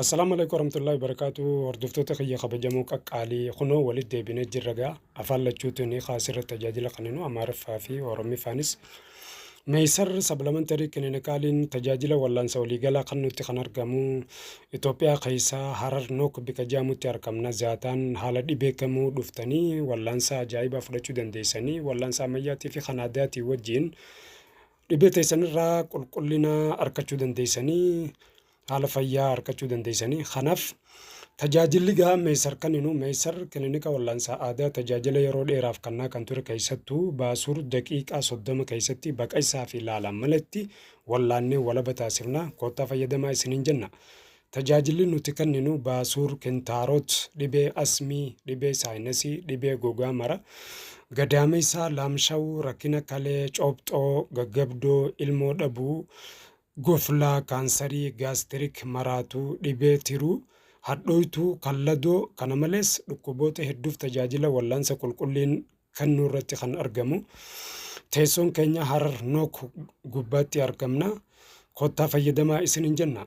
Assalaamu alaikum warahmatullahi wabarakatuh hordoftoota kiyya kabajamoo qaqqaalii kunoo walitti deebinee jirra gaa afaan lachuutu ni kaasirra tajaajila kenninu amaariffaa fi oromiffaanis meeysar sablamantari kiliinikaaliin tajaajila wallaansa waliigalaa kennuutti kan argamu Itoophiyaa keessaa harar nook bika jaamutti argamna zaataan haala dhibee kamuu dhuftanii wallaansa ajaa'ibaa fudhachuu dandeessanii wallaansa ammayyaatii fi kan aadaatii wajjiin Dhibee teessan irraa qulqullina arkachuu dandeessanii haala fayyaa arkachuu dandeessanii kanaaf tajaajilli gahaa meessar kenninu meessar kilinika wal'aansaa aadaa tajaajila yeroo dheeraaf kannaa kan ture keessattuu baasuur daqiiqaa soddoma keessatti baqaysaa fi laalaan malatti wal'aannee walaba taasifna koottaa fayyadamaa isiniin jenna. Tajaajilli nuti kenninu baasuur, kintaaroot, dhibee asmii, dhibee saayinasii, dhibee gogaa mara, gadaameessaa, laamshawuu, rakkina kalee, coophxoo, gaggabdoo, ilmoo dhabuu, goflaa, kaansarii, gaastirik, maraatuu, dhibee tiruu, hadhooytuu, kalladoo, kana malees dhukkuboota hedduuf tajaajila wallaansa qulqulliin kennuu irratti kan argamu. Teessoon keenya Harar Nook gubbaatti argamna. Kottaa fayyadamaa isiniin jenna.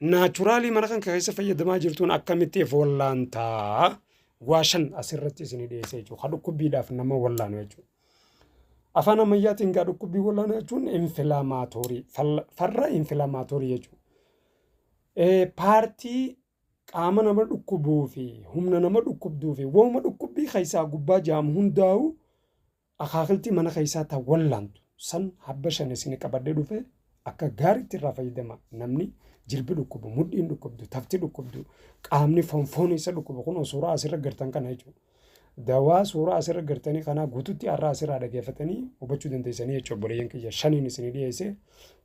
Naachuraalii mana kan keessa fayyadamaa jirtuun akkamitti of wallaantaa? Waa shan asirratti isin dhiyeessee jechuudha. Kan dhukkubbiidhaaf nama wallaanu jechuudha. Afaan ammayyaatiin gaa dhukkubbii wallaanaa jechuun infilaamaatoorii farra infilaamaatoorii jechuudha. Paartii qaama nama dhukkubuu fi humna nama dhukkubduu fi waanuma dhukkubbii keessaa gubbaa jaamu hundaa'u Akaakiltii mana keessaa ta wallaantu san habba shan isin qabadhe dhufe akka gaariitti irraa fayyadama namni jilbi dhukkubu mudhiin dhukkubdu tafti dhukkubdu qaamni fonfoon isa dhukkubu kun suuraa asirra gartan kana jechuudha. Dawaa suuraa asirra gartanii kanaa guututti har'a asirraa dhageeffatanii hubachuu dandeessanii jechuudha obboleeyyan kiyya shaniin isinii dhiyeesse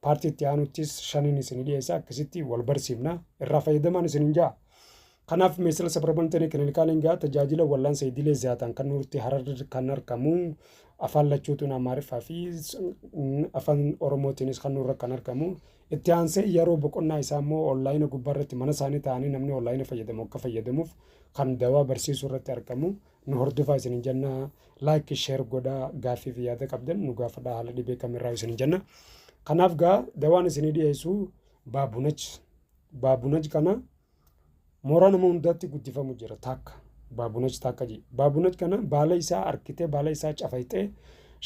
paartii itti aanuttis shaniin isinii dhiyeesse akkasitti wal barsiifna irraa fayyadamaan isiniin ja'a. Kanaaf Meesila Sabramantenii Kilinikaalin gaa tajaajila wallaansa idilee ziyaataan kan nuurti hararri kan argamu afaan lachuutuun Amaariffaa fi afaan Oromootiinis kan nuurra kan argamu itti aansee yeroo boqonnaa isaa immoo onlaayina gubbaa irratti mana isaanii ta'anii namni onlaayina fayyadamu akka fayyadamuuf kan dawaa barsiisuu irratti argamu nu hordofaa isin jenna laayik sheer godhaa gaaffii fi yaada qabdan nu gaafadhaa haala dhibee kamirraa isin jenna kanaaf gaa dawaan isinii dhiyeessu baabunach baabunach kana Mooraa nama hundaatti guddifamu jira takka. Baabunach takka jee. Baabunach kana baala isaa harkitee baala isaa cafayxee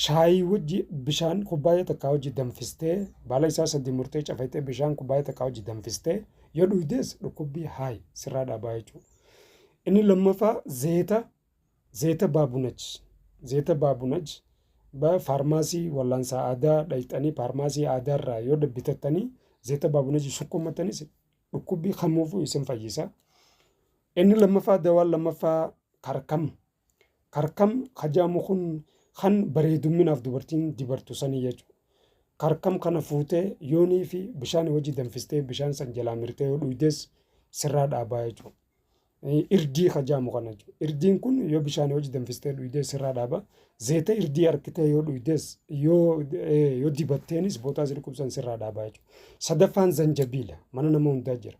shaayii wajji bishaan kubbaayya takkaa wajji danfistee baala isaa sadii murtee cafayxee bishaan kubbaayya takkaa wajji danfistee yoo dhuydees dhukkubbii haay sirraa dhaabaa jechuudha. Inni lammaffaa zeeta zeeta baabunach zeeta baabunach ba faarmaasii wallaansaa aadaa dhayxanii faarmaasii aadaa irraa yoo bitatanii zeeta baabunach sukkuummattanis Dhukkubbii kamuufuu isin fayyisa. Inni lammaffaa dawaan lammaffaa karkam. Karkam hajaamu kun kan bareedumminaaf dubartiin dibartu sanii jechuudha. Karkam kana fuutee yoonii fi bishaan wajji danfistee bishaan san jalaa mirtee yoo dhuydes sirraa dhaabaa jechuudha. Irdii ka jaamu kana jechuudha. Irdiin kun yoo bishaanii wajji danfistee dhuydee sirraa dhaaba. Zeeta irdii harkitee yoo dhuydees yoo yoo dibatteenis bootaa si dhukkubsan sirraa dhaaba jechuudha. Sadaffaan zanjabiila mana nama hundaa jira.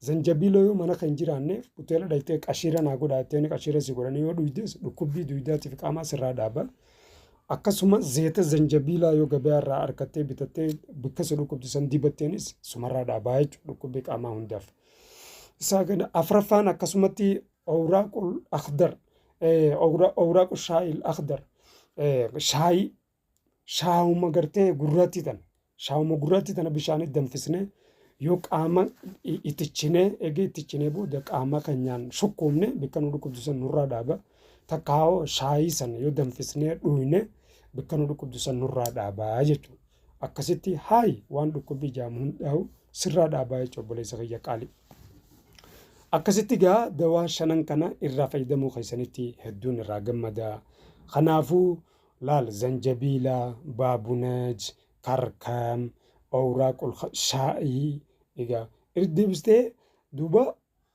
Zanjabiila yoo mana kan jiraanneef hoteela dhayxee qashiira naa godhaa jettee qashiira si godhanii yoo dhuydees dhukkubbii duydaatiif qaamaa sirraa dhaaba. Akkasuma zeeta zanjabiilaa yoo gabaa irraa harkattee bitattee bakka si dhukkubsisan dibatteenis sumarraa dhaabaa jechuudha dhukkubbii qaamaa hundaaf. isaa kana afraffaan akkasumatti awraaqul akhdar awraaqu shaayil akhdar shaayii shaawuma gartee gurratti tana shaawuma gurratti tana bishaanitti danfisnee yoo qaama itichinee eegee itichinee booda qaama keenyaan shukkuumne bakka nu dhukkubsisan nurraa dhaaba takkaawoo shaayii sana yoo danfisnee dhugne bakka nu dhukkubsisan nurraa dhaaba jechuudha. Akkasitti haayi waan dhukkubbii jaamu hundaahu sirraa dhaabaa jecha obboleessa kiyya qaali. Akkasitti gaa dawaa shanan kana irraa fayyadamuu keessanitti hedduun irraa gammada. Kanaafuu laal zanjabiila, baabunaj, karkam, awraaqul shaa'ii egaa irra deebistee duuba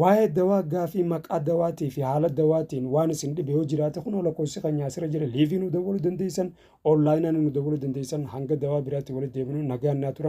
Waa'ee dawaa gaafii maqaa dawaatii fi haala dawaatiin waan isin dhibe yoo jiraate kunoo lakkoofsi keenyaa asirra jira liivii nu dawwaluu dandeessan onlaayinaan nu dawwaluu dandeessan hanga dawaa biraatti walitti deebinu nagaan naa turaa.